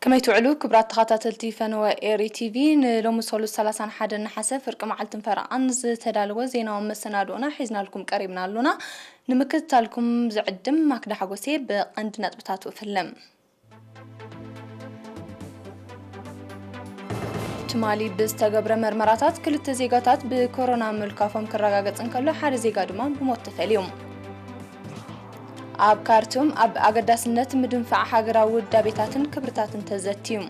ከመይ ትውዕሉ ክብራት ተኸታተልቲ ፈነወ ኤሪ ቲቪ ንሎሚ ሰሉስ 31 ነሓሰ ፍርቂ መዓልትን ፈረቓን ዝተዳለወ ዜናዊ መሰናድኦና ሒዝናልኩም ቀሪብና ኣሎና ንምክትታልኩም ዝዕድም ማክዳ ሓጎስ'የ ብቐንዲ ነጥብታቱ እፍልም። ትማሊ ብዝተገብረ መርመራታት ክልተ ዜጋታት ብኮሮና ምልካፎም ክረጋገጽ እንከሎ ሓደ ዜጋ ድማ ብሞት ተፈልዩ። ኣብ ካርቱም ኣብ ኣገዳስነት ምድንፋዕ ሃገራዊ ውዳቤታትን ክብርታትን ተዘትዩ።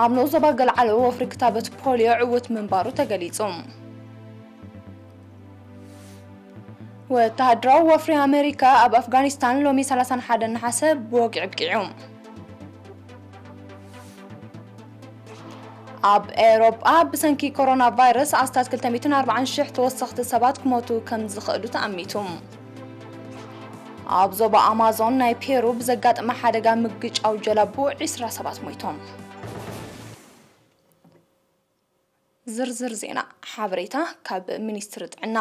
ኣብ ንኡስ ዞባ ገልዓሎ ወፍሪ ክታበት ፖልዮ ዕዉት ምንባሩ ተገሊጹ። ወተሃደራዊ ወፍሪ ኣመሪካ ኣብ ኣፍጋኒስታን ሎሚ 31 ነሓሰ ብወግዒ ኣብቂዑ። ኣብ ኤውሮጳ ብሰንኪ ኮሮና ቫይረስ ኣስታት 240 ሽሕ ተወሰኽቲ ሰባት ክሞቱ ከም ዝኽእሉ ተኣሚቱ። ኣብ ዞባ ኣማዞን ናይ ፔሩ ብዘጋጠመ ሓደጋ ምግጫው ጀላቡ 20 ሰባት ሞይቶም። ዝርዝር ዜና ሓበሬታ ካብ ሚኒስትሪ ጥዕና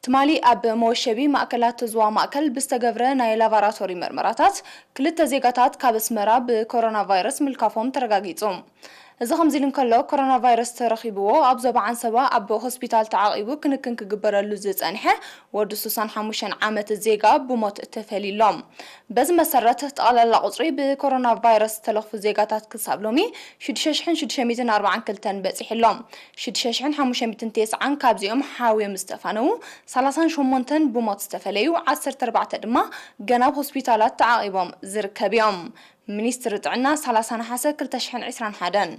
ትማሊ ኣብ መወሸቢ ማእከላት ዞባ ማእከል ብዝተገብረ ናይ ላቫራቶሪ መርመራታት ክልተ ዜጋታት ካብ ኣስመራ ብኮሮና ቫይረስ ምልካፎም ተረጋጊጹ። እዚ ከምዚ ኢሉ እንከሎ ኮሮና ቫይረስ ተረኺብዎ ኣብ ዞባ ዓንሰባ ኣብ ሆስፒታል ተዓቂቡ ክንክን ክግበረሉ ዝጸንሐ ወዲ ሱሳን ሓሙሽተን ዓመት ዜጋ ብሞት ተፈልዩ'ሎ። በዚ መሰረት ጠቕላላ ቁፅሪ ብኮሮና ቫይረስ ዝተለኽፉ ዜጋታት ክሳብ ሎሚ ሽዱሽተ ሽሕን ሽዱሽተ ሚእትን ኣርብዓን ክልተን በፂሑ ኣሎ። ሽዱሽተ ሽሕን ሓሙሽተ ሚእትን ቴስዓን ካብዚኦም ሓውዮም ዝተፋነዉ ሰላሳን ሸሞንተን ብሞት ዝተፈለዩ ዓሰርተ ኣርባዕተ ድማ ገና ኣብ ሆስፒታላት ተዓቚቦም ዝርከብ እዮም ሚኒስትሪ ጥዕና ሰላሳ ነሓሰ ክልተ ሽሕን ዕስራን ሓደን።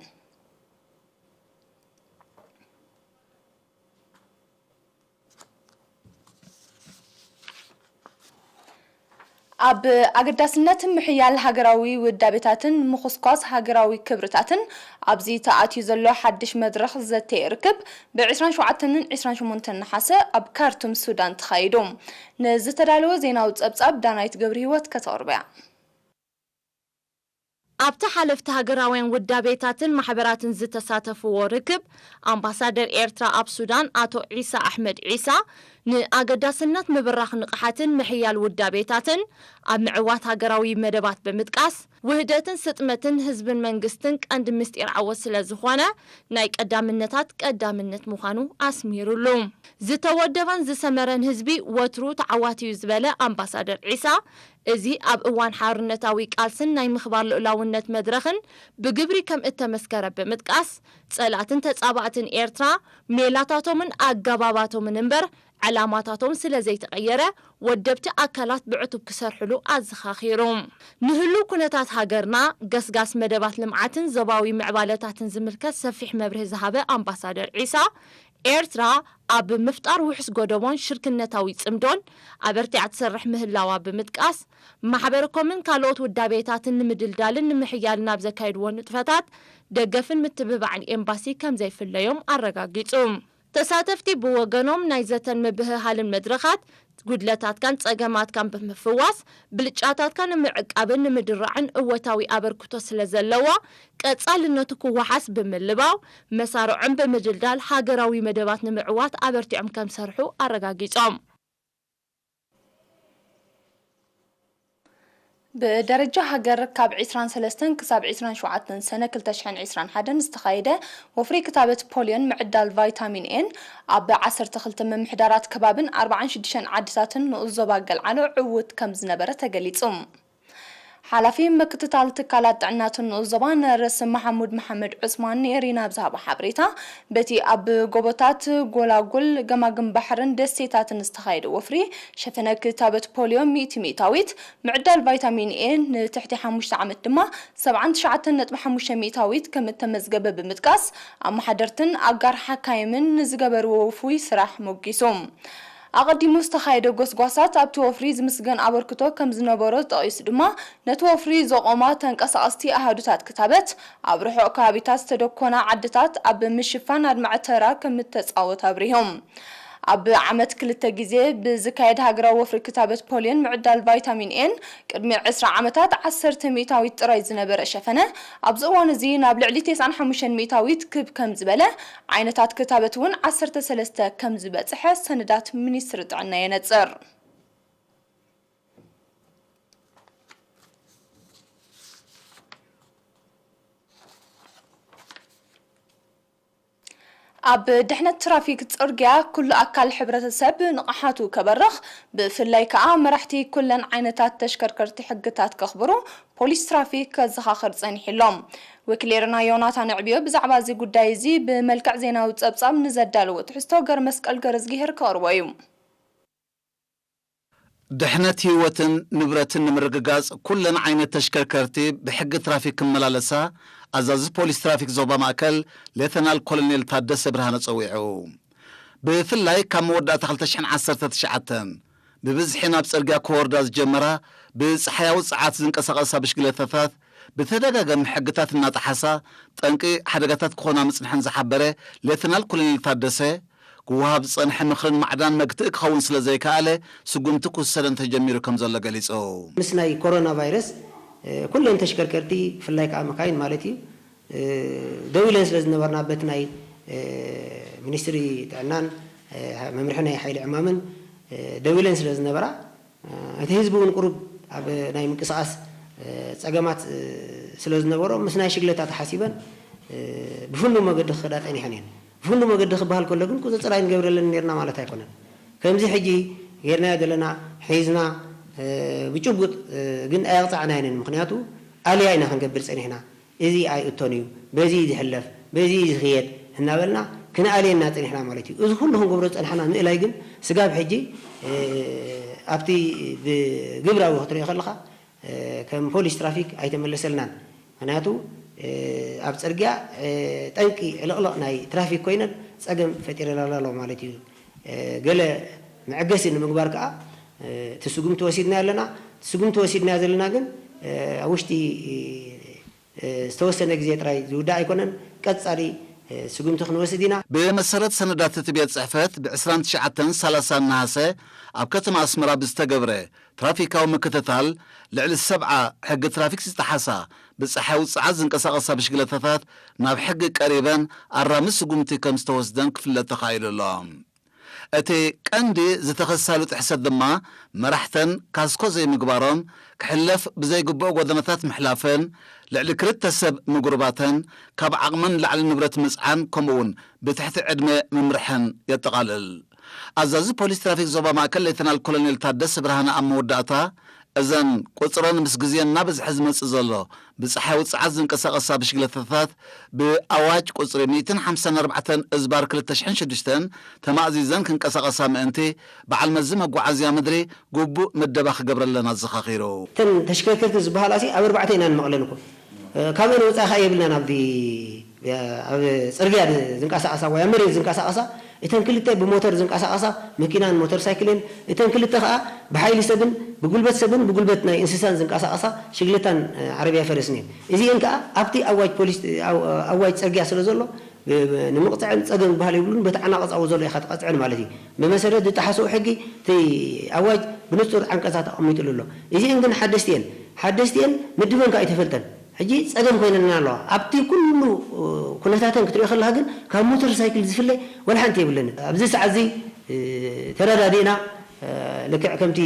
ኣብ ኣገዳስነት ምሕያል ሃገራዊ ውዳቤታትን ምኹስኳስ ሃገራዊ ክብርታትን ኣብዚ ተኣትዩ ዘሎ ሓድሽ መድረኽ ዘተ ርክብ ብ ዕስራን ሸውዓተንን ዕስራን ሸሞንተን ነሓሰ ኣብ ካርቱም ሱዳን ተኻይዱ ንዝተዳለወ ዜናዊ ጸብጻብ ዳናይት ገብርሂወት ከተቕርቦ'ያ። ኣብቲ ሓለፍቲ ሃገራውያን ውዳቤታትን ማሕበራትን ዝተሳተፍዎ ርክብ፣ ኣምባሳደር ኤርትራ ኣብ ሱዳን ኣቶ ዒሳ ኣሕመድ ዒሳ፣ ንኣገዳስነት ምብራኽ ንቕሓትን ምሕያል ውዳቤታትን ኣብ ምዕዋት ሃገራዊ መደባት ብምጥቃስ፣ ውህደትን ስጥመትን ህዝብን መንግስትን ቀንዲ ምስጢር ዓወት ስለዝኾነ፣ ናይ ቀዳምነታት ቀዳምነት ምዃኑ ኣስሚርሉ። ዝተወደበን ዝሰመረን ህዝቢ ወትሩ ተዓዋቲ'ዩ ዝበለ ኣምባሳደር ዒሳ፣ እዚ ኣብ እዋን ሓርነታዊ ቃልስን ናይ ምኽባር ልኡላውነት መድረኽን ብግብሪ ከም እተመስከረ ብምጥቃስ፣ ጸላእትን ተጻባእትን ኤርትራ፣ ሜላታቶምን ኣገባባቶምን እምበር ዕላማታቶም ስለ ዘይተቐየረ፣ ወደብቲ ኣካላት ብዕቱብ ክሰርሕሉ ኣዘኻኺሩ። ንህሉው ኩነታት ሃገርና፣ ገስጋስ መደባት ልምዓትን ዞባዊ ምዕባለታትን ዝምልከት ሰፊሕ መብርሂ ዝሃበ ኣምባሳደር ዒሳ፣ ኤርትራ ኣብ ምፍጣር ውሑስ ጎደቦን ሽርክነታዊ ጽምዶን ኣበርቲዓ ትሰርሕ ምህላዋ ብምጥቃስ፣ ማሕበረኮምን ካልኦት ውዳቤታትን ንምድልዳልን ንምሕያልን ኣብ ዘካየድዎ ንጥፈታት ደገፍን ምትብባዕን ኤምባሲ ከምዘይፍለዮም ኣረጋጊጹ። ተሳተፍቲ ብወገኖም ናይ ዘተን ምብህሃልን መድረኻት ጉድለታትካን ጸገማትካን ብምፍዋስ፣ ብልጫታትካ ንምዕቃብን ንምድራዕን እወታዊ ኣበርክቶ ስለ ዘለዎ፣ ቀጻልነቱ ክወሓስ ብምልባው፣ መሳርዖም ብምድልዳል ሃገራዊ መደባት ንምዕዋት ኣበርቲዖም ከምዝሰርሑ ኣረጋጊጾም። ብደረጃ ሃገር ካብ ዕስራን ሰለስተን ክሳብ ዕስራን ሸውዓተን ሰነ ክልተ ሽሕን ዕስራን ሓደን ዝተኻየደ ወፍሪ ክታበት ፖልዮን ምዕዳል ቫይታሚን ኤን ኣብ ዓሰርተ ክልተ ምምሕዳራት ከባቢን ኣርብዓን ሽዱሽተን ዓድታትን ንኡስ ዞባ ገልዓሎ ዕዉት ከምዝነበረ ተገሊፁ። ሓላፊ ምክትታል ትካላት ጥዕና'ቲ ንኡስ ዞባ ነርስ መሓሙድ መሓመድ ዑስማን ንኤሪና ኣብ ዝሃቦ ሓበሬታ፣ በቲ ኣብ ጎቦታት፣ ጎላጉል፣ ገማግም ባሕርን ደሴታትን ዝተኻየደ ወፍሪ፣ ሸፈነ ክታበት ፖልዮ ሚእቲ ሚእታዊት፣ ምዕዳል ቫይታሚን ኤ ንትሕቲ ሓሙሽተ ዓመት ድማ ሰብዓን ትሽዓተን ነጥቢ ሓሙሽተ ሚእታዊት ከም እተመዝገበ ብምጥቃስ፣ ኣመሓደርትን ኣጋር ሓካይምን ንዝገበርዎ ውፉይ ስራሕ ሞጊሱ። ኣቐዲሙ ዝተኻየደ ጎስጓሳት ኣብቲ ወፍሪ ዝምስገን ኣበርክቶ ከም ዝነበሮ ጠቒሱ ድማ፣ ነቲ ወፍሪ ዘቖማ ተንቀሳቐስቲ ኣሃዱታት ክታበት፣ ኣብ ርሑቕ ከባቢታት ዝተደኮና ዓድታት ኣብ ምሽፋን ኣድማዒ ተራ ከም እተጻወት ኣብሪሁ። ኣብ ዓመት ክልተ ግዜ ብዝካየድ ሃገራዊ ወፍሪ ክታበት ፖልዮን ምዕዳል ቫይታሚን ኤን፣ ቅድሚ ዕስራ ዓመታት ዓሰርተ ሚእታዊት ጥራይ ዝነበረ ሸፈነ፣ ኣብዚ እዋን'ዚ ናብ ልዕሊ ቴስዓን ሓሙሽተን ሚእታዊት ክብ ከም ዝበለ ዓይነታት ክታበት እውን ዓሰርተ ሰለስተ ከም ዝበፀሐ ሰነዳት ሚኒስትሪ ጥዕና የነፅር። ኣብ ድሕነት ትራፊክ ፅርግያ ኩሉ ኣካል ሕብረተሰብ ንቕሓቱ ከበርኽ ብፍላይ ከዓ መራሕቲ ኩለን ዓይነታት ተሽከርከርቲ ሕግታት ከኽብሩ ፖሊስ ትራፊክ ከዘኻኽር ጸኒሑ ኣሎ። ወኪሌርና ዮናታን ኣዕብዮ ብዛዕባ እዚ ጉዳይ እዚ ብመልክዕ ዜናዊ ጸብጻብ ንዘዳለዎ ትሕዝቶ ገርመስቀል ገረዝጊሄር ከቕርቦ እዩ። ድሕነት ህይወትን ንብረትን ንምርግጋፅ ኩለን ዓይነት ተሽከርከርቲ ብሕጊ ትራፊክ ክመላለሳ ኣዛዚ ፖሊስ ትራፊክ ዞባ ማእከል ሌተናል ኮሎኔል ታደሰ ብርሃነ ፀዊዑ። ብፍላይ ካብ መወዳእታ ክልተ ሽሕን ዓሰርተ ትሽዓተን ብብዝሒ ናብ ጽርግያ ክወርዳ ዝጀመራ ብጸሓያዊ ጸዓት ዝንቀሳቐሳ ብሽግለታታት ብተደጋጋሚ ሕግታት እናጠሓሳ ጠንቂ ሓደጋታት ክኾና ምጽንሐን ዝሓበረ ሌተናል ኮሎኔል ታደሰ፣ ክወሃብ ዝጸንሐ ምኽርን ማዕዳን መግትኢ ክኸውን ስለዘይከኣለ ስጉምቲ ክውሰደን ተጀሚሩ ከምዘሎ ገሊጹ። ምስ ናይ ኮሮና ቫይረስ ኩለን ተሽከርከርቲ ብፍላይ ከኣ መካይን ማለት እዩ፣ ደው ኢለን ስለ ዝነበርና በቲ ናይ ሚኒስትሪ ጥዕናን መምርሒ ናይ ሓይሊ ዕማምን ደው ኢለን ስለ ዝነበራ እቲ ህዝቢ እውን ቁሩብ ኣብ ናይ ምንቅስቓስ ፀገማት ስለ ዝነበሮ ምስ ናይ ሽግለታ ተሓሲበን ብፍኑው መገዲ ክኸዳ ፀኒሐን እየን። ብፍኑው መገዲ ክበሃል ከሎ ግን ቁፅፅር ኣይንገብረለንን ነይርና ማለት ኣይኮነን። ከምዚ ሕጂ ገይርናዮ ዘለና ሒዝና ብጭቡጥ ግን ኣየቕፃዕናየንን ምኽንያቱ ኣልያ ኢና ክንገብር ፀኒሕና። እዚ ኣይእቶን እዩ፣ በዚ እዩ ዝሕለፍ፣ በዚ እዩ ዝኽየድ እናበልና ክንኣልየና ፀኒሕና ማለት እዩ። እዚ ኹሉ ክንገብሮ ዝፀናሕና ምእላይ ግን ስጋብ ሕጂ ኣብቲ ብግብራዊ ክትሪኦ ከለኻ ከም ፖሊስ ትራፊክ ኣይተመለሰልናን። ምኽንያቱ ኣብ ፅርግያ ጠንቂ ዕልቕልቕ ናይ ትራፊክ ኮይነን ፀገም ፈጢረናልና ኣሎ ማለት እዩ። ገለ መዐገሲ ንምግባር ከኣ እቲ ስጉምቲ ወሲድናዮ ኣለና። እቲ ስጉምቲ ወሲድናዮ ዘለና ግን ኣብ ውሽጢ ዝተወሰነ ግዜ ጥራይ ዝውዳእ ኣይኮነን። ቀጻሊ ስጉምቲ ክንወስድ ኢና። ብመሰረት ሰነዳት እቲ ቤት ጽሕፈት፣ ብ ዕስራን ትሽዓተን ሳላሳን ነሃሰ ኣብ ከተማ ኣስመራ ብዝተገብረ ትራፊካዊ ምክትታል፣ ልዕሊ ሰብዓ ሕጊ ትራፊክ ዝጠሓሳ ብጸሓይ ውጽዓት ዝንቀሳቐሳ ብሽግለታታት ናብ ሕጊ ቀሪበን ኣራሚ ስጉምቲ ከም ዝተወስደን ክፍለጥ ተኻኢሉ ኣሎ። እቲ ቀንዲ ዝተኸሳሉ ጥሕሰት ድማ መራሕተን ካስኮ ዘይምግባሮም፣ ክሕለፍ ብዘይግብኦ ጎደናታት ምሕላፈን፣ ልዕሊ ክልተ ሰብ ምጉርባተን፣ ካብ ዓቕመን ንላዕሊ ንብረት ምጽዓን ከምኡ'ውን ብትሕቲ ዕድመ ምምርሐን የጠቓልል። ኣዛዚ ፖሊስ ትራፊክ ዞባ ማእከል ሌተናል ኮሎኔል ታደሰ ብርሃነ ኣብ መወዳእታ፣ እዘን ቁጽረን ምስ ግዜ እናበዝሐ ዝመጽእ ዘሎ ብጸሓያዊ ጸዓት ዝንቀሳቐሳ ብሽግለታታት ብኣዋጅ ቁጽሪ ሚእትን ሓምሳን ኣርባዕተን እዝባር ክልተ ሽሕን ሽዱሽተን ተማእዚዘን ክንቀሳቐሳ ምእንቲ በዓል መዚ መጓዓዝያ ምድሪ ግቡእ ምደባ ክገብረለን ኣዘኻኺሩ። እተን ተሽከርከርቲ ዝበሃላሲ ኣብ ኣርባዕተ ኢና ንመቕለን እኮ። ካብኤን ወጻኢ ከኣ የብልናን ኣብዚ። ኣብ ጽርግያ ዝንቀሳቐሳ ወይ ኣብ መሬት ዝንቀሳቐሳ እተን ክልተ ብሞተር ዝንቀሳቐሳ መኪናን ሞተር ሳይክልን እተን ክልተ ከኣ ብሓይሊ ሰብን ብጉልበት ሰብን ብጉልበት ናይ እንስሳን ዝንቀሳቐሳ ሽግለታን ዓረብያ ፈረስን እየን። እዚኤን ከኣ ኣብቲ ኣዋጅ ፖሊስ ኣዋጅ ጽርግያ ስለ ዘሎ ንምቕጽዐን ጸገም ዝበሃል የብሉን በቲ ዓናቕጻዊ ዘሎ ኢኻ ትቐጽዐን ማለት እዩ። ብመሰረት ዝጠሓስኦ ሕጊ እቲ ኣዋጅ ብንጹር ዓንቀጻት ኣቐሚጥሉ ኣሎ። እዚኤን ግን ሓደስቲ እየን። ሓደስቲ እየን ምድበን ከኣ ኣይተፈልጠን። ሕጂ ጸገም ኮይነልና ኣሎ ኣብቲ ኩሉ ኩነታተን ክትሪኦ ከለካ ግን ካብ ሞተር ሳይክል ዝፍለ ወላ ሓንቲ የብለንን ኣብዚ ሰዓት እዚ ተረዳዲእና ልክዕ ከምቲ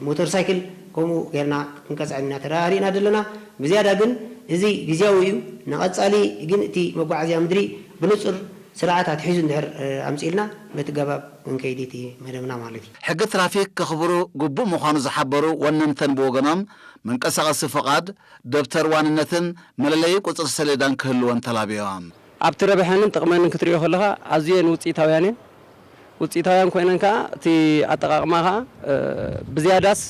ሞተር ሳይክል ከምኡ ጌርና ክንቀጽዐን ኢና ተረዳዲእና ዘለና ብዝያዳ ግን እዚ ግዝያዊ እዩ ንቀጻሊ ግን እቲ መጓዓዝያ ምድሪ ብንጹር ስርዓት ኣትሒዙ እንድሕር ኣምጺእልና በቲ ኣገባብ ክንከይድ እቲ መደብና ማለት እዩ። ሕጊ ትራፊክ ከኽብሩ ግቡእ ምዃኑ ዝሓበሩ ወነንተን ብወገኖም፣ መንቀሳቐሲ ፍቓድ፣ ደብተር ዋንነትን መለለዪ ቁጽሪ ሰሌዳን ክህልወን ተላብዮም። ኣብቲ ረብሐንን ጥቕመንን ክትሪኦ ከለኻ ኣዝየን ውጽኢታውያን እየን። ውጽኢታውያን ኮይነን ከኣ እቲ ኣጠቓቕማ ከኣ ብዝያዳስ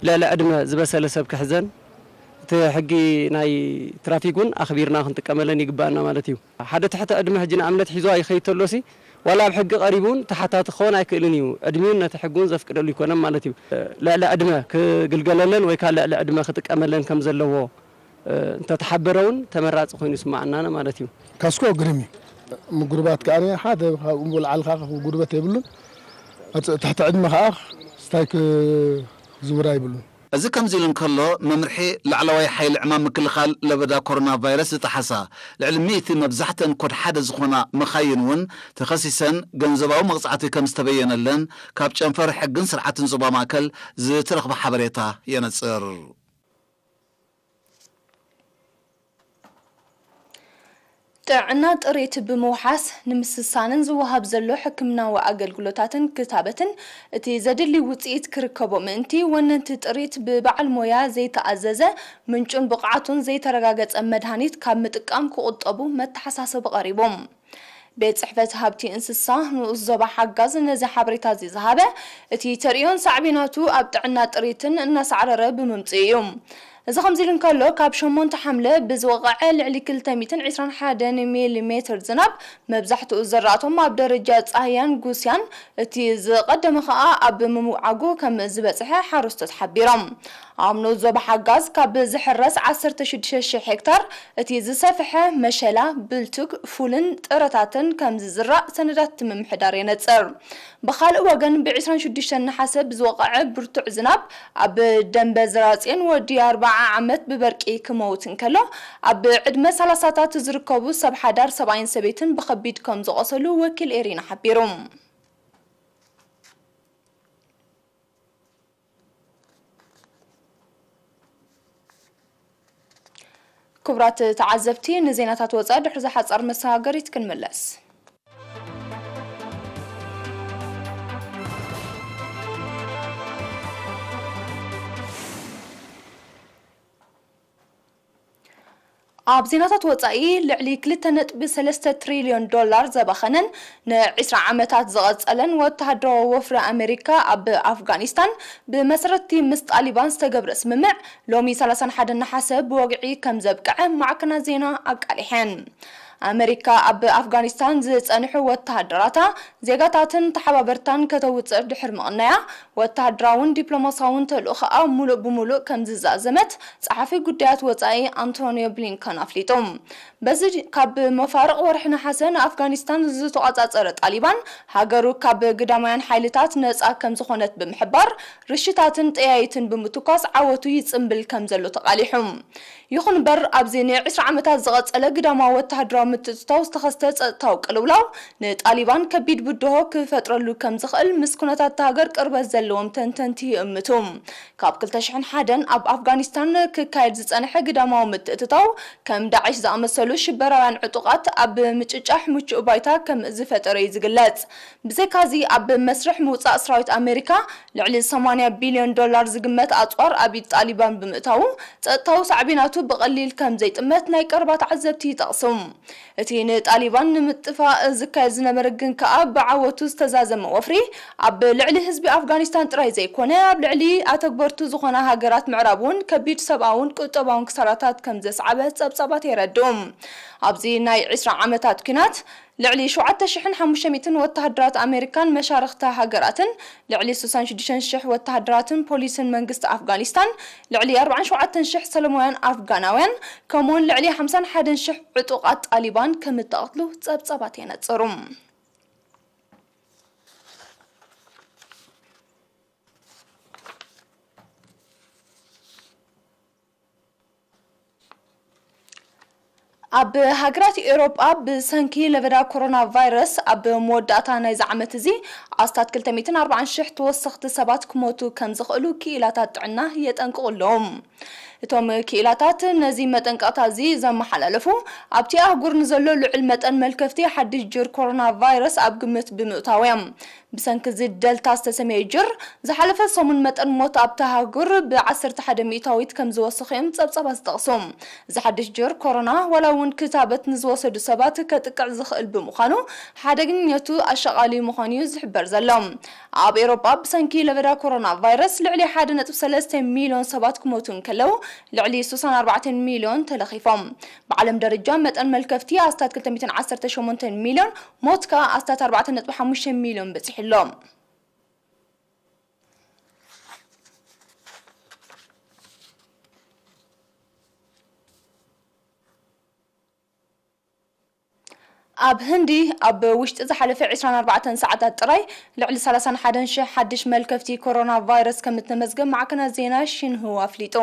ልዕሊ ዕድመ ዝበሰለ ሰብ ክሕዘን እቲ ሕጊ ናይ ትራፊክ እውን ኣኽቢርና ክንጥቀመለን ይግበኣና ማለት እዩ። ሓደ ትሕተ ዕድመ ሕጂ ንእምነት ሒዙ ኣይኸይድ ተሎሲ ዋላ ኣብ ሕጊ ቀሪቡ ውን ተሓታቲ ክኸውን ኣይክእልን ኢዩ። ዕድሚኡን ነቲ ሕጊ ውን ዘፍቅደሉ ኣይኮነን ማለት ኢዩ። ልዕሊ ዕድመ ክግልገለለን ወይ ከኣ ልዕሊ ዕድመ ክጥቀመለን ከም ዘለዎ እንተ ተሓበረ ውን ተመራጺ ኮይኑ ይስመዓናነ ማለት ኢዩ። ካስኮ ግርም ኢዩ። ምጉርባት ከኣ ሓደ ካብኡ ወልዓል ከኣ ክጉርበት የብሉን። ኣብ ትሕቲ ዕድመ ከኣ ስታይ ክዝውር ኣይብሉን። እዚ ከምዚ ኢሉ እንከሎ፣ መምርሒ ላዕለዋይ ሓይሊ ዕማም ምክልኻል ለበዳ ኮሮና ቫይረስ ዝጠሓሳ ልዕሊ ሚእቲ መብዛሕትአን ኮድ ሓደ ዝኾና መኻይን እውን ተኸሲሰን ገንዘባዊ መቕጻዕቲ ከምዝተበየነለን ካብ ጨንፈር ሕግን ስርዓትን ዞባ ማእከል ዝተረኽበ ሓበሬታ የነጽር። ጥዕና ጥሪት ብምውሓስ ንምስሳንን ዝወሃብ ዘሎ ሕክምናዊ ኣገልግሎታትን ክታበትን እቲ ዘድሊ ውጽኢት ክርከቦ ምእንቲ ወነንቲ ጥሪት ብበዓል ሞያ ዘይተኣዘዘ ምንጩን ብቕዓቱን ዘይተረጋገጸ መድሃኒት ካብ ምጥቃም ክቑጠቡ መተሓሳሰቢ ቀሪቦም። ቤት ጽሕፈት ሃብቲ እንስሳ ንኡስ ዞባ ሓጋዝ ነዚ ሓበሬታ'ዚ ዝሃበ፣ እቲ ተርእዮን ሳዕቤናቱ ኣብ ጥዕና ጥሪትን እናሳዕረረ ብምምጽኡ እዩ። እዚ ከምዚ'ሉ እንከሎ፣ ካብ ሸሞንተ ሓምለ ብዝወቐዐ ልዕሊ ክልተ ሚእትን ዕስራን ሓደን ሚሊ ሜትር ዝናብ፣ መብዛሕትኡ ዘራእቶም ኣብ ደረጃ ጻህያን ጉስያን፣ እቲ ዝቐደመ ከኣ ኣብ ምውዓጉ ከም ዝበጽሐ ሓረስቶት ሓቢሮም። ኣብ ንኡስ ዞባ ሓጋዝ ካብ ዝሕረስ ዓሰርተ ሽዱሽተ ሽሕ ሄክታር እቲ ዝሰፍሐ መሸላ፣ ብልቱግ፣ ፉልን ጥረታትን ከምዝዝራእ ሰነዳት እቲ ምምሕዳር የነጽር። ብኻልእ ወገን ብ ዕስራን ሽዱሽተን ነሓሰ ብዝወቐዐ ብርቱዕ ዝናብ ኣብ ደምበ ዝራጽዮን ወዲ ኣርብዓ ዓመት ብበርቂ ክመውት እንከሎ ኣብ ዕድመ ሰላሳታት ዝርከቡ ሰብ ሓዳር ሰብኣይን ሰበይትን ብኸቢድ ከምዝቖሰሉ ወኪል ኤሪና ሓቢሩ። ክቡራት ተዓዘብቲ ንዜናታት ወፃኢ ድሕሪ'ዛ ሓፃር መሰጋገሪት ክንምለስ። ኣብ ዜናታት ወጻኢ ልዕሊ ክልተ ነጥቢ ሰለስተ ትሪልዮን ዶላር ዘባኸነን ን ዕስራ ዓመታት ዝቐጸለን ወተሃደራዊ ወፍሪ ኣመሪካ ኣብ ኣፍጋኒስታን ብመሰረት'ቲ ምስ ጣሊባን ዝተገብረ ስምምዕ ሎሚ ሰላሳን ሓደን ነሓሰ ብወግዒ ከምዘብቅዐ ማዕከናት ዜና ኣቃሊሐን። ኣመሪካ ኣብ ኣፍጋኒስታን ዝጸንሑ ወተሃደራታ፣ ዜጋታትን ተሓባበርታን ከተውጽእ ድሕሪ ምቕናያ፣ ወተሃደራውን ዲፕሎማስያውን ተልእኾኣ ሙሉእ ብሙሉእ ከምዝዛዘመት ጸሓፊ ጉዳያት ወጻኢ ኣንቶንዮ ብሊንከን ኣፍሊጡ። በዚ ካብ መፋርቕ ወርሒ ነሓሰ ንኣፍጋኒስታን ዝተቖጻጸረ ጣሊባን፣ ሃገሩ ካብ ግዳማውያን ሓይልታት ነጻ ከምዝኾነት ብምሕባር፣ ርሽታትን ጠያይትን ብምትኳስ ዓወቱ ይጽምብል ከምዘሎ ተቓሊሑ። ይኹን እምበር ኣብዚ ንዒስራ ዓመታት ዝቐጸለ ግዳማዊ ወተሃደራዊ ምትእትታው ዝተኸስተ ጸጥታዊ ቅልውላው፣ ንጣሊባን ከቢድ ብድሆ ክፈጥረሉ ከም ዝኽእል ምስ ኩነታት እታ ሃገር ቅርበት ዘለዎም ተንተንቲ ይእምቱ። ካብ ክልተ ሽሕን ሓደን ኣብ ኣፍጋኒስታን ክካየድ ዝጸንሐ ግዳማዊ ምትእትታው፣ ከም ዳዒሽ ዝኣመሰሉ ሽበራውያን ዕጡቓት ኣብ ምጭጫሕ ምቹእ ባይታ ከም ዝፈጠረ'ዩ ዝግለጽ። ብዘይካ'ዚ ኣብ መስርሕ ምውጻእ ስራዊት ኣመሪካ ልዕሊ ሰማንያ ቢልዮን ዶላር ዝግመት ኣጽዋር ኣብ ኢድ ጣሊባን ብምእታዉ፣ ጸጥታዊ ሳዕቤናቱ ብቐሊል ከም ዘይጥመት ናይ ቀረባ ተዓዘብቲ ይጠቕሱ። እቲ ንጣሊባን ንምጥፋእ ዝካየድ ዝነበረ ግን ከኣ ብዓወቱ ዝተዛዘመ ወፍሪ፣ ኣብ ልዕሊ ህዝቢ ኣፍጋኒስታን ጥራይ ዘይኮነ፣ ኣብ ልዕሊ ኣተግበርቱ ዝኾና ሃገራት ምዕራብ'ውን ከቢድ ሰብኣውን ቁጠባውን ክሳራታት ከም ዘስዓበ ጸብጻባት የረድኡ። ኣብዚ ናይ ዕስራ ዓመታት ኲናት፣ ልዕሊ ሸውዓተ ሽሕን ሓሙሽተ ሚእትን ወተሃደራት ኣመሪካን መሻርኽታ ሃገራትን፣ ልዕሊ ስሳን ሽዱሽተን ሽሕ ወተሃደራትን ፖሊስን መንግስቲ ኣፍጋኒስታን፣ ልዕሊ ኣርባዓን ሸውዓተን ሽሕ ሰለማውያን ኣፍጋናውያን፣ ከምኡ'ውን ልዕሊ ሓምሳን ሓደን ሽሕ ዕጡቓት ጣሊባን ከምእተቐትሉ ጸብጻባት የነጽሩ። ኣብ ሃገራት ኤውሮጳ ብሰንኪ ለበዳ ኮሮና ቫይረስ ኣብ መወዳእታ ናይዚ ዓመት እዚ ኣስታት ክልተ ሚእትን ኣርባዓን ሽሕ ተወሰኽቲ ሰባት ክሞቱ ከም ዝኽእሉ ክኢላታት ጥዕና የጠንቅቑ ኣለዉ። እቶም ክኢላታት ነዚ መጠንቀቕታ እዚ ዘመሓላለፉ ኣብቲ ኣህጉር ንዘሎ ልዑል መጠን መልከፍቲ ሓድሽ ጅር ኮሮና ቫይረስ ኣብ ግምት ብምእታው እዮም። ብሰንኪ እዚ ደልታ ዝተሰምየ ጅር፣ ዝሓለፈ ሰሙን መጠን ሞት ኣብታ ሃገር ብዓሰርተ ሓደ ሚእታዊት ከም ዝወሰኸ'ዮም ጸብጻባት ዝጠቕሱ። እዚ ሓድሽ ጅር ኮሮና፣ ዋላ'ውን ክታበት ንዝወሰዱ ሰባት ከጥቅዕ ዝኽእል ብምዃኑ፣ ሓደገኝነቱ ኣሻቓሊ ምዃኑ'ዩ ዝሕበር ዘሎ። ኣብ ኤውሮጳ ብሰንኪ ለበዳ ኮሮናቫይረስ ልዕሊ ሓደ ነጥቢ ሰለስተ ሚልዮን ሰባት ክሞቱ እንከለው፣ ልዕሊ ስሳን ኣርባዕተን ሚልዮን ተለኺፎም። ብዓለም ደረጃ መጠን መልከፍቲ ኣስታት ክልተ ሚእትን ዓሰርተ ሸሞንተን ሚልዮን፣ ሞት ከኣ ኣስታት ኣርባዕተ ነጥቢ ሓሙሽተ ሚልዮን በጺሑ ኣሎ። ኣብ ህንዲ ኣብ ውሽጢ ዝሓለፈ ዕስራን ኣርባዕተን ሰዓታት ጥራይ ልዕሊ ሰላሳን ሓደን ሽሕ ሓድሽ መልከፍቲ ኮሮናቫይረስ ከምእተመዝገብ ማዕከናት ዜና ሺንሁዋ ኣፍሊጡ።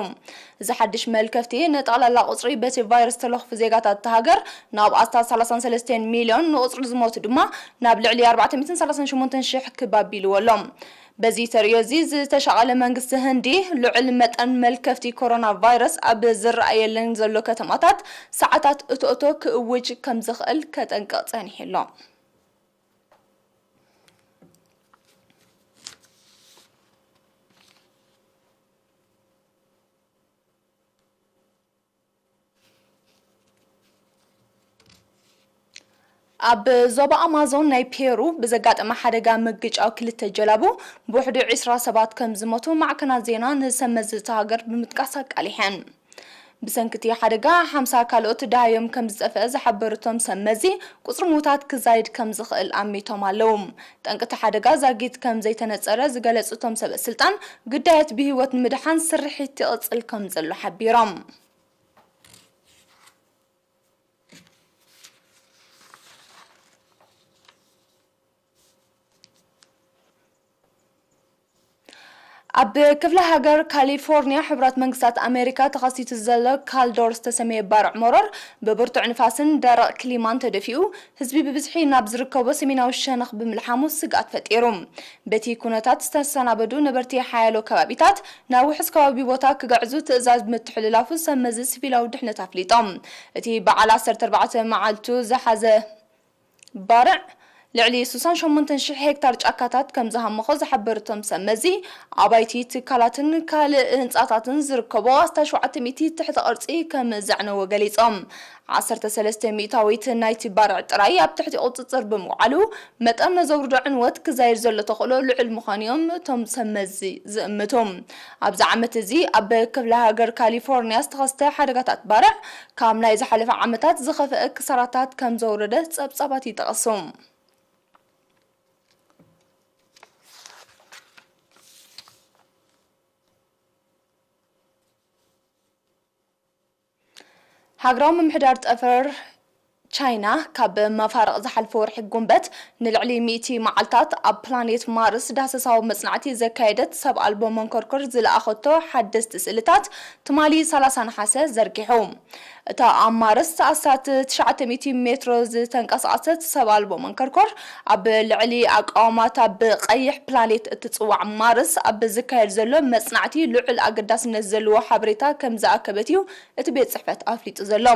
እዚ ሓድሽ መልከፍቲ፣ ንጠቕላላ ቁጽሪ በቲ ቫይረስ ዝተለኽፉ ዜጋታት እታ ሃገር ናብ ኣስታት ሰላሳን ሰለስተን ሚልዮን፣ ንቁጽሪ ዝሞቱ ድማ ናብ ልዕሊ ኣርባዕተ ሚእትን ሰላሳን ሸሞንተን ሽሕ ክብ ኣቢልዎ ኣሎ። በዚ ተርእዮ እዚ ዝተሻቐለ መንግስቲ ህንዲ፣ ልዑል መጠን መልከፍቲ ኮሮና ቫይረስ ኣብ ዝረኣየለን ዘሎ ከተማታት ሰዓታት እቶ-እቶ ክእውጅ ከም ዝኽእል ከጠንቅቕ ጸኒሑ ኣሎ። ኣብ ዞባ ኣማዞን ናይ ፔሩ ብዘጋጠመ ሓደጋ ምግጫው ክልተ ጀላቡ ብውሕዱ ዒስራ ሰባት ከም ዝሞቱ ማዕከናት ዜና ንሰብ መዚ እታ ሃገር ብምጥቃስ ኣቃሊሐን። ብሰንኪ እቲ ሓደጋ ሓምሳ ካልኦት ደሃዮም ከም ዝጠፍአ ዝሓበሩ እቶም ሰብ መዚ፣ ቁጽሪ ምዉታት ክዛይድ ከም ዝኽእል ኣሚቶም ኣለዉ። ጠንቂ እቲ ሓደጋ ዛጊት ከም ዘይተነጸረ ዝገለጹ እቶም ሰበስልጣን፣ ግዳያት ብህይወት ንምድሓን ስርሒት ይቕጽል ከም ዘሎ ሓቢሮም። ኣብ ክፍለ ሃገር ካሊፎርንያ ሕብራት መንግስታት ኣሜሪካ ተኸሲቱ ዘሎ ካልዶር ዝተሰመየ ባርዕ መሮር ብብርቱዕ ንፋስን ደረቕ ክሊማን ተደፊኡ ህዝቢ ብብዝሒ ናብ ዝርከቦ ሰሜናዊ ሸነኽ ብምልሓሙ ስግኣት ፈጢሩ። በቲ ኩነታት ዝተሰናበዱ ነበርቲ ሓያሎ ከባቢታት ናብ ውሑስ ከባቢ ቦታ ክግዕዙ ትእዛዝ ምትሕልላፉ ሰብመዚ ሲቪላዊ ድሕነት ኣፍሊጦም። እቲ በዓል ዓሰርተ ኣርባዕተ መዓልቱ ዝሓዘ ባርዕ፣ ልዕሊ ስሳን ሸሞንተን ሽሕ ሄክታር ጫካታት ከምዝሃመኾ ዝሓበሩ እቶም ሰብ መዚ፣ ኣባይቲ፣ ትካላትን ካልእ ህንጻታትን ዝርከቦ ኣስታት ሸውዓተ ሚእቲ ትሕተ ቅርጺ ከምዘዕነወ ገሊጾም። ዓሰርተ ሰለስተ ሚእታዊት ናይቲ ባርዕ ጥራይ ኣብ ትሕቲ ቁጽጽር ብምውዓሉ፣ መጠን ነዘውርዶ ዕንወት ክዛይድ ዘሎ ተኽእሎ ልዑል ምዃኑ'ዮም እቶም ሰብ መዚ ዝእምቱ። ኣብዚ ዓመት'ዚ ኣብ ክፍለ ሃገር ካሊፎርንያ ዝተኸስተ ሓደጋታት ባርዕ፣ ካብ ናይ ዝሓለፈ ዓመታት ዝኸፍአ ክሳራታት ከም ዘውረደ ጸብጻባት ይጠቕሱ። ሃገራዊ ምምሕዳር ጠፈር ቻይና ካብ መፋርቕ ዝሓልፈ ወርሒ ጉንበት ንልዕሊ ሚእቲ መዓልታት ኣብ ፕላኔት ማርስ ዳህሰሳዊ መጽናዕቲ ዘካየደት ሰብ ኣልቦ መንኮርኮር ዝለኣኸቶ ሓደስቲ ስእልታት ትማሊ ሰላሳ ነሓሰ ዘርጊሑ። እታ ኣብ ማርስ ኣስታት ትሽዓተ ሚእቲ ሜትሮ ዝተንቀሳቐሰት ሰብ ኣልቦ መንኮርኮር ኣብ ልዕሊ ኣቃውማታ ብቀይሕ ፕላኔት እትጽዋዕ ማርስ ኣብ ዝካየድ ዘሎ መጽናዕቲ ልዑል ኣገዳስነት ዘለዎ ሓበሬታ ከምዝኣከበት'ዩ እቲ ቤት ጽሕፈት ኣፍሊጡ ዘሎ።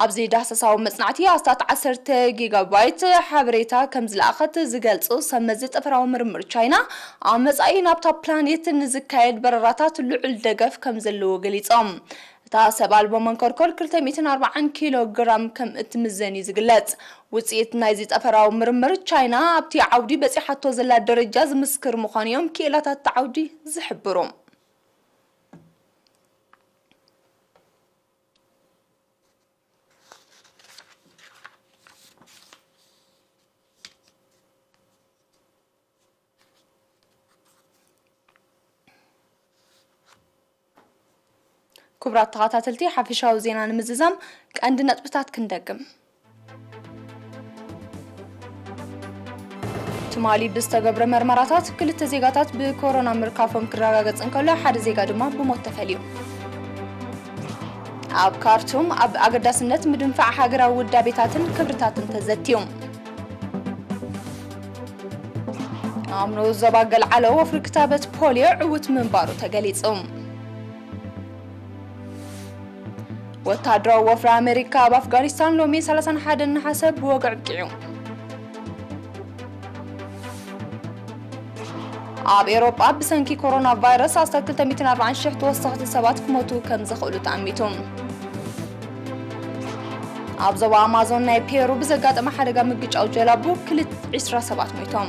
ኣብዚ ዳህሳሳዊ መጽናዕቲ ኣስታት ዓሰርተ ጊጋባይት ሓበሬታ ከም ዝለኣኸት ዝገልጹ ሰብ መዚ ጠፈራዊ ምርምር ቻይና፣ ኣብ መጻኢ ናብታ ፕላኔት ንዝካየድ በረራታት ልዑል ደገፍ ከም ዘለዎ ገሊጾም። እታ ሰብ ኣልቦ መንኮርኮር ክልተ ሚእትን ኣርባዓን ኪሎ ግራም ከም እትምዘን እዩ ዝግለጽ። ውጽኢት ናይዚ ጠፈራዊ ምርምር፣ ቻይና ኣብቲ ዓውዲ በጺሓቶ ዘላ ደረጃ ዝምስክር ምዃኑ እዮም ክኢላታት እቲ ዓውዲ ዝሕብሩ። ክቡራት ተኸታተልቲ ሓፈሻዊ ዜና ንምዝዛም ቀንዲ ነጥብታት ክንደግም። ትማሊ ብዝተገብረ መርመራታት ክልተ ዜጋታት ብኮሮና ምርካፎም ክረጋገጽ እንከሎ ሓደ ዜጋ ድማ ብሞት ተፈልዩ። ኣብ ካርቱም ኣብ ኣገዳስነት ምድንፋዕ ሃገራዊ ውዳቤታትን ክብርታትን ተዘትዩ። ኣብ ንኡስ ዞባ ገልዓሎ ወፍሪ ክታበት ፖልዮ ዕዉት ምንባሩ ተገሊጹ። ወተሃደራዊ ወፍሪ ኣመሪካ ኣብ ኣፍጋኒስታን ሎሚ ሰላሳን ሓደን ነሓሰ ብወግዒ ኣብቂዑ። ኣብ ኤውሮጳ ብሰንኪ ኮሮና ቫይረስ ኣስታት 240 ሽሕ ተወሰኽቲ ሰባት ክሞቱ ከም ዝኽእሉ ተኣሚቱ። ኣብ ዞባ ኣማዞን ናይ ፔሩ ብዘጋጠመ ሓደጋ ምግጫው ጀላቡ ክልት 20 ሰባት ሞይቶም።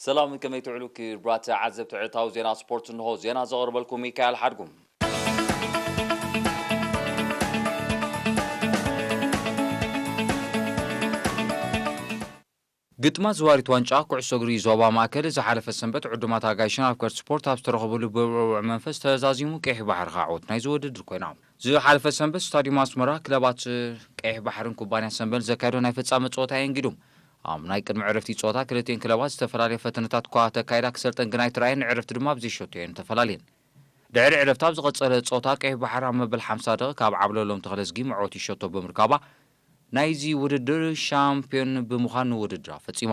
ሰላም ከመይ ትውዕሉ ክብራት ተዓዘብቲ ዕለታዊ ዜና ስፖርት እንሆ ዜና ዘቕርበልኩም ሚካኤል ሓድጉ። ግጥማት ዝዋሪት ዋንጫ ኩዕሶ እግሪ ዞባ ማእከል ዝሓለፈ ሰንበት ዕዱማት ኣጋይሽን ኣፍቀርቲ ስፖርት ኣብ ዝተረኸብሉ ብብዕቡዕ መንፈስ ተዛዚሙ ቀይሕ ባሕሪ ከኣ ዓወት ናይዚ ውድድር ኮይና። ዝሓለፈ ሰንበት ስታድዩም ኣስመራ ክለባት ቀይሕ ባሕርን ኩባንያ ሰንበል ዘካየዶ ናይ ፍጻመ ጸወታ የንጊዱ ኣብ ናይ ቅድሚ ዕረፍቲ ጸወታ ክልቲኤን ክለባት ዝተፈላለየ ፈተነታት'ኳ ተካይዳ ክሰልጠን ግና ኣይተራእየን፣ ንዕረፍቲ ድማ ብዘይ ሸቶ'የን ተፈላልየን። ድሕሪ ዕረፍቲ ኣብ ዝቐጸለ ጸወታ ቀይሕ ባሕሪ ኣብ መበል ሓምሳ ደቒቕ ካብ ዓብለሎም ተኽለዝጊ መዕወቲ ሸቶ ብምርካባ ናይ'ዚ ውድድር ሻምፕዮን ብምዃን ውድድራ ፈጺማ።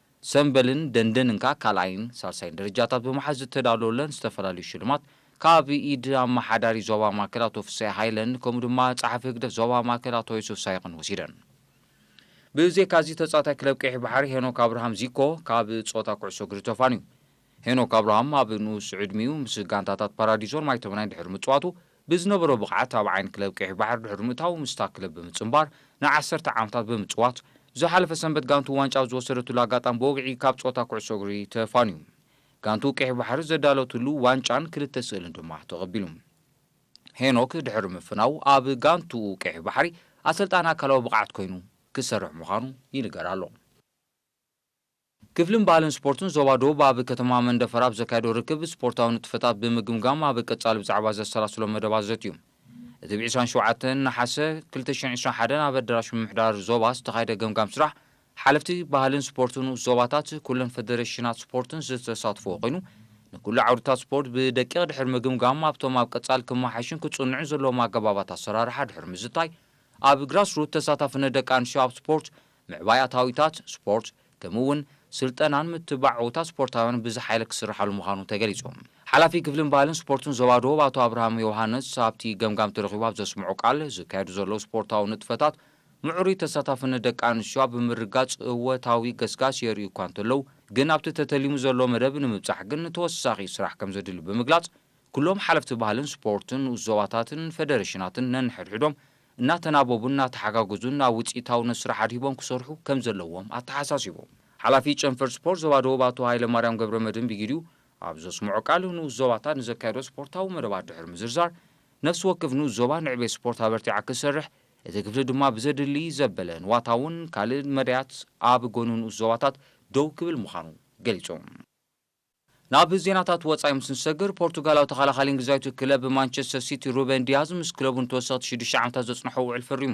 ሰምበልን ደንደንንካ ካልኣይን ሳልሳይን ደረጃታት ብምሓዝ ዝተዳለወለን ዝተፈላለዩ ሽልማት ካብ ኢድ ኣመሓዳሪ ዞባ ማእከል ኣቶ ፍስሃ ሃይለን ከምኡ ድማ ጸሓፊ ህግደፍ ዞባ ማእከል ኣቶ ዮሱፍ ሳይቅን ወሲደን። ብዜካዚ ተጻዋታይ ክለብ ቀይሕ ባሕሪ ሄኖክ ኣብርሃም፣ ዚኮ፣ ካብ ጸወታ ኩዕሶ እግሪ ተፋንዩ። ሄኖክ ኣብርሃም ኣብ ንኡስ ዕድሚኡ ምስ ጋንታታት ፓራዲዞን ማይተመናይን ድሕሪ ምጽዋቱ ብዝነበሮ ብቕዓት ኣብ ዓይኒ ክለብ ቀይሕ ባሕሪ ድሕሪ ምእታዉ ምስታ ክለብ ብምጽንባር ንዓሰርተ ዓመታት ብምጽዋት፣ ዝሓለፈ ሰንበት ጋንትኡ ዋንጫ ኣብ ዝወሰደትሉ ኣጋጣሚ ብወግዒ ካብ ጸወታ ኩዕሶ እግሪ ተፋንዩ። ጋንትኡ ቀይሕ ባሕሪ ዘዳለወትሉ ዋንጫን ክልተ ስእልን ድማ ተቐቢሉ። ሄኖክ ድሕሪ ምፍናዉ ኣብ ጋንትኡ ቀይሕ ባሕሪ ኣሰልጣኒ ኣካላዊ ብቕዓት ኮይኑ ክሰርሕ ምዃኑ ይንገር ኣሎ። ክፍልን ባህልን ስፖርትን ዞባ ደቡብ ኣብ ከተማ መንደፈራ ኣብ ዘካየዶ ርክብ ስፖርታዊ ንጥፈታት ብምግምጋም ኣብ ቀፃሊ ብዛዕባ ዘሰላስሎም መደባት ዘትዩ። እቲ ብ ዕስራን ሸውዓተን ነሓሰ ክልተ ሽሕን ዕስራን ሓደን ኣብ ኣደራሽ ምምሕዳር ዞባ ዝተኻየደ ገምጋም ስራሕ ሓለፍቲ ባህልን ስፖርትን ንኡስ ዞባታት ኩለን ፈደሬሽናት ስፖርትን ዝተሳትፍዎ ኮይኑ ንኩሉ ዓውድታት ስፖርት ብደቂቕ ድሕሪ ምግምጋም ኣብቶም ኣብ ቀፃሊ ክመሓየሹን ክፅንዑን ዘለዎም ኣገባባት ኣሰራርሓ ድሕሪ ምዝታይ ኣብ ግራስሩት ተሳታፍነት ደቂ ኣንስትዮ ኣብ ስፖርት ምዕባይ ኣታዊታት ስፖርት ከምኡ እውን ስልጠናን ምትብባዕ ዕውታት ስፖርታውያን ብዝሓየለ ክስርሓሉ ምዃኑ ተገሊፁ። ሓላፊ ክፍልን ባህልን ስፖርትን ዞባ ደቡብ ኣቶ ኣብርሃም ዮውሃንስ ኣብቲ ገምጋም ተረኺቡ ኣብ ዘስምዖ ቃል፣ ዝካየዱ ዘለዉ ስፖርታዊ ንጥፈታት ምዕሩይ ተሳታፍነት ደቂ ኣንስትዮ ኣብ ምርግጋፅ እወታዊ ገስጋስ የርእዩ እኳ እንተለዉ ግን ኣብቲ ተተሊሙ ዘሎ መደብ ንምብፃሕ ግን ተወሳኺ ስራሕ ከምዘድሊ ብምግላፅ ኩሎም ሓለፍቲ ባህልን ስፖርትን ንኡስ ዞባታትን ፌደሬሽናትን ነንሕድሕዶም እናተናበቡን እናተሓጋገዙን ናብ ውፅኢታውነት ስራሕ ኣድሂቦም ክሰርሑ ከምዘለዎም ኣተሓሳሲቦም። ሓላፊ ጨንፈር ስፖርት ዞባ ደቡብ ኣቶ ሃይለማርያም ገብረመድህን ብጊዲኡ ኣብ ዘስመዖ ቃል ንኡስ ዞባታት ንዘካየዶ ስፖርታዊ መደባት ድሕሪ ምዝርዛር ነፍሲ ወከፍ ንኡስ ዞባ ንዕቤት ስፖርት ኣበርቲዓ ክትሰርሕ እቲ ክፍሊ ድማ ብዘድሊ ዘበለ ንዋታውን ካልእን መዳያት ኣብ ጎኒ ንኡስ ዞባታት ደው ክብል ምዃኑ ገሊፆም። ናብ ዜናታት ወጻኢ ምስ ንሰግር፣ ፖርቱጋላዊ ተኸላኻሊ እንግሊዛዊት ክለብ ማንቸስተር ሲቲ ሩበን ዲያዝ ምስ ክለቡ ንተወሰኽቲ ሽዱሽተ ዓመታት ዘጽንሖ ውዕል ፈሪሙ።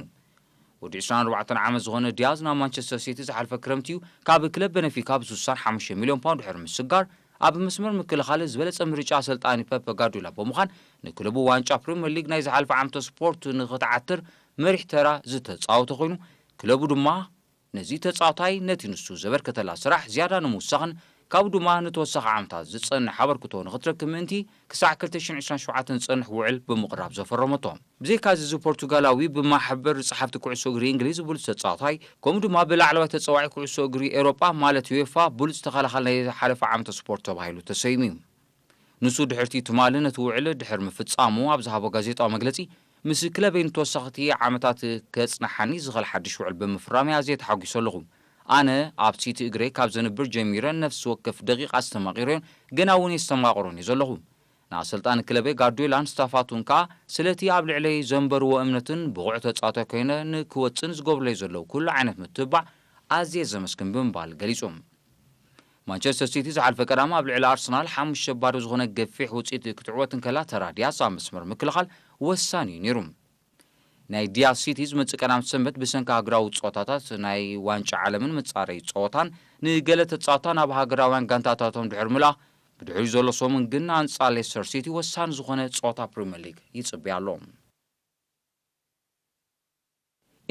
ወዲ ዕስራን ኣርባዕተን ዓመት ዝኾነ ዲያዝ ናብ ማንቸስተር ሲቲ ዝሓልፈ ክረምቲ'ዩ ካብ ክለብ በነፊካ ብስሳን ሓሙሽተ ሚልዮን ፓውንድ ድሕሪ ምስጋር ኣብ መስመር ምክልኻል ዝበለጸ ምርጫ ኣሰልጣኒ ፐፕ ጋርዲዮላ ብምዃን ንክለቡ ዋንጫ ፕሪመር ሊግ ናይ ዝሓለፈ ዓመተ ስፖርት ንኽትዓትር መሪሕ ተራ ዝተጻወተ ኮይኑ ክለቡ ድማ ነዚ ተጻዋታይ ነቲ ንሱ ዘበርከተላ ስራሕ ዝያዳ ንምውሳኽን ካብኡ ድማ ንተወሳኺ ዓመታት ዝጸንሕ ኣበርክቶ ንኽትረክብ ምእንቲ ክሳዕ ክልተ ሽሕን ዕስራን ሸውዓተን ዝጸንሕ ውዕል ብምቕራብ ዘፈረመቶ። ብዘይካ'ዚ እዚ ፖርቱጋላዊ ብማሕበር ጸሓፍቲ ኩዕሶ እግሪ እንግሊዝ ብሉጽ ተጻዋታይ ከምኡ ድማ ብላዕለዋይ ተጻዋዒ ኩዕሶ እግሪ ኤውሮጳ ማለት UEFA ብሉጽ ተኸላኻሊ ናይ ዝሓለፈ ዓመተ ስፖርት ተባሂሉ ተሰይሙ'ዩ። ንሱ ድሕርቲ ትማሊ ነቲ ውዕል ድሕሪ ምፍጻሙ ኣብ ዝሃቦ ጋዜጣዊ መግለጺ፣ ምስ ክለበይ ንተወሰኽቲ ዓመታት ከጽንሓኒ ዝኽእል ሓድሽ ውዕል ብምፍራመይ ኣዝየ ተሓጒሰ ኣለኹ። ኣነ ኣብ ሲቲ እግረይ ካብ ዘንብር ጀሚረ ነፍሲ ወከፍ ደቂቕ ኣስተማቒረዮን ገና እውን የስተማቕሮን እየ ዘለኹ። ንኣሰልጣኒ ክለበይ ጋርድዮላን ስታፋቱን ከኣ ስለቲ ኣብ ልዕለይ ዘንበርዎ እምነትን ብቑዕ ተጻዋታይ ኮይነ ንክወጽእን ዝገብሩለይ ዘለዉ ኩሉ ዓይነት ምትብባዕ ኣዝየ ዘመስግን ብምባል ገሊጹ። ማንቸስተር ሲቲ ዝሓልፈ ቀዳም ኣብ ልዕሊ ኣርሰናል ሓሙሽተ ባዶ ዝኾነ ገፊሕ ውጽኢት ክትዕወት እንከላ ተራ ዲያስ ኣብ መስመር ምክልኻል ወሳኒ'ዩ ነይሩ። ናይ ዲያስ ሲቲ ዝመጽእ ቀዳም ሰንበት ብሰንኪ ሃገራዊ ጸወታታት ናይ ዋንጫ ዓለምን መጻረዪ ጸወታን ንገለ ተጻወትታ ናብ ሃገራውያን ጋንታታቶም ድሕሪ ምልኣ ብድሕሪኡ ዘሎ ሰሙን ግን ኣንጻር ሌስተር ሲቲ ወሳኒ ዝኾነ ጸወታ ፕሪመር ሊግ ይጽበያ ኣሎ።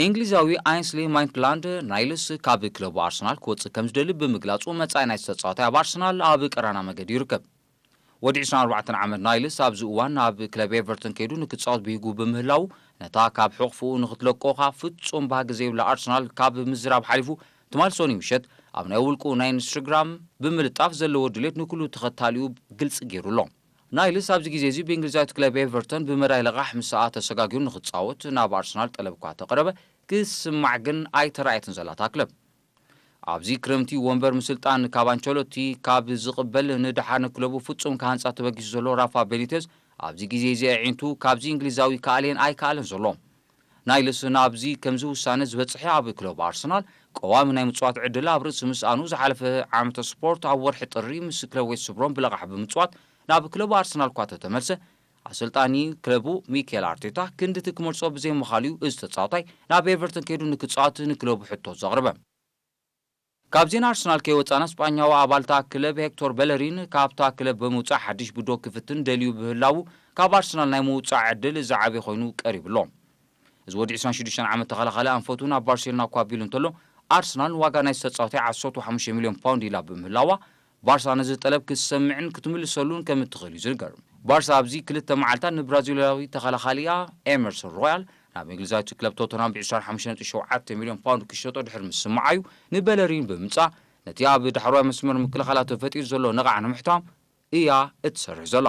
እንግሊዛዊ ኣይንስሊ ማይትላንድ ናይልስ ካብ ክለቡ ኣርሰናል ክወጽእ ከምዝደሊ ብምግላጹ መጻኢ ናይቲ ተጻዋታይ ኣብ ኣርሰናል ኣብ ቀራና መገዲ ይርከብ። ወዲ ዕስራን ኣርባዕተን ዓመት ናይልስ ኣብዚ እዋን ናብ ክለብ ኤቨርተን ከይዱ ንክጻወት ብሂጉ ብምህላዉ ነታ ካብ ሕቕፍኡ ንክትለቆኻ ፍጹም ባህጊ ዘይብላ ኣርሰናል ካብ ምዝራብ ሓሊፉ ትማል ሶኑይ ምሸት ኣብ ናይ ውልቁ ናይ ኢንስትግራም ብምልጣፍ ዘለዎ ድሌት ንኩሉ ተኸታሊኡ ግልጺ ጌሩ ኣሎ። ናይልስ ኣብዚ ግዜ'ዚ ብእንግሊዛዊት ክለብ ኤቨርተን ብመዳይ ለቓሕ ምስኣ ተሰጋጊሩ ንኽጻወት ናብ ኣርሰናል ጠለብ'ኳ ተቕረበ፣ ክትስማዕ ግን ኣይተራእየትን ዘላ እታ ክለብ። ኣብዚ ክረምቲ ወንበር ምስልጣን ካብ ኣንቸሎቲ ካብ ዝቕበል ንደሓር ንክለቡ ፍጹም ክሃንጻ ተበጊሱ ዘሎ ራፋ ቤኒተዝ ኣብዚ ግዜ'ዚ ኣዒንቱ ካብዚ እንግሊዛዊ ክኣልየን ኣይክኣለን ዘሎ። ናይ ልስን ኣብዚ ከምዚ ውሳነ ዝበጽሐ ኣብ ክለብ ኣርሰናል ቀዋሚ ናይ ምጽዋት ዕድል ኣብ ርእሲ ምስኣኑ ዝሓለፈ ዓመተ ስፖርት ኣብ ወርሒ ጥሪ ምስ ክለብ ዌስት ብሮም ብለቓሕ ብምጽዋት ናብ ክለቡ ኣርሰናል'ኳ ተተመልሰ ኣሰልጣኒ ክለቡ ሚኬል ኣርቴታ ክንድቲ ክመርጾ ብዘይምኻሉ'ዩ እዚ ተጻዋታይ ናብ ኤቨርተን ከይዱ ንክጻወት ንክለቡ ሕቶ ዘቕርበ። ካብ ዜና ኣርሰናል ከይወጻና ስጳኛዊ ኣባል እታ ክለብ ሄክቶር በለሪን ካብታ ክለብ ብምውጻእ ሓድሽ ብዶ ክፍትን ደልዩ ብህላዉ ካብ ኣርሰናል ናይ ምውጻእ ዕድል ዝዓበየ ኮይኑ ቀሪቡ ኣሎ። እዚ ወዲ ዕስራን ሽዱሽተን ዓመት ተኸላኻሊ ኣንፈቱ ናብ ባርሴሎና እኳ ኣቢሉ እንተሎ ኣርሰናል ንዋጋ ናይቲ ተጻዋታይ ዓሰርተ ሓሙሽተ ሚልዮን ፓውንድ ኢላ ብምህላዋ ባርሳ ነዚ ጠለብ ክትሰምዕን ክትምልሰሉን ከም እትኽእል እዩ ዝንገር። ባርሳ ኣብዚ ክልተ መዓልታት ንብራዚላዊ ተኸላኻሊኣ ኤመርሰን ሮያል ናብ እንግሊዛዊት ክለብ ቶተንሃም ብ ዕስራን ሓሙሽተን ነጥቢ ሸውዓተ ሚልዮን ፓውንድ ክሸጦ ድሕሪ ምስምዓ እዩ ንበለሪን ብምምጻእ ነቲ ኣብ ዳሕረዋይ መስመር ምክልኻላ ተፈጢሩ ዘሎ ነቓዕ ንምሕታም እያ እትሰርሕ ዘላ።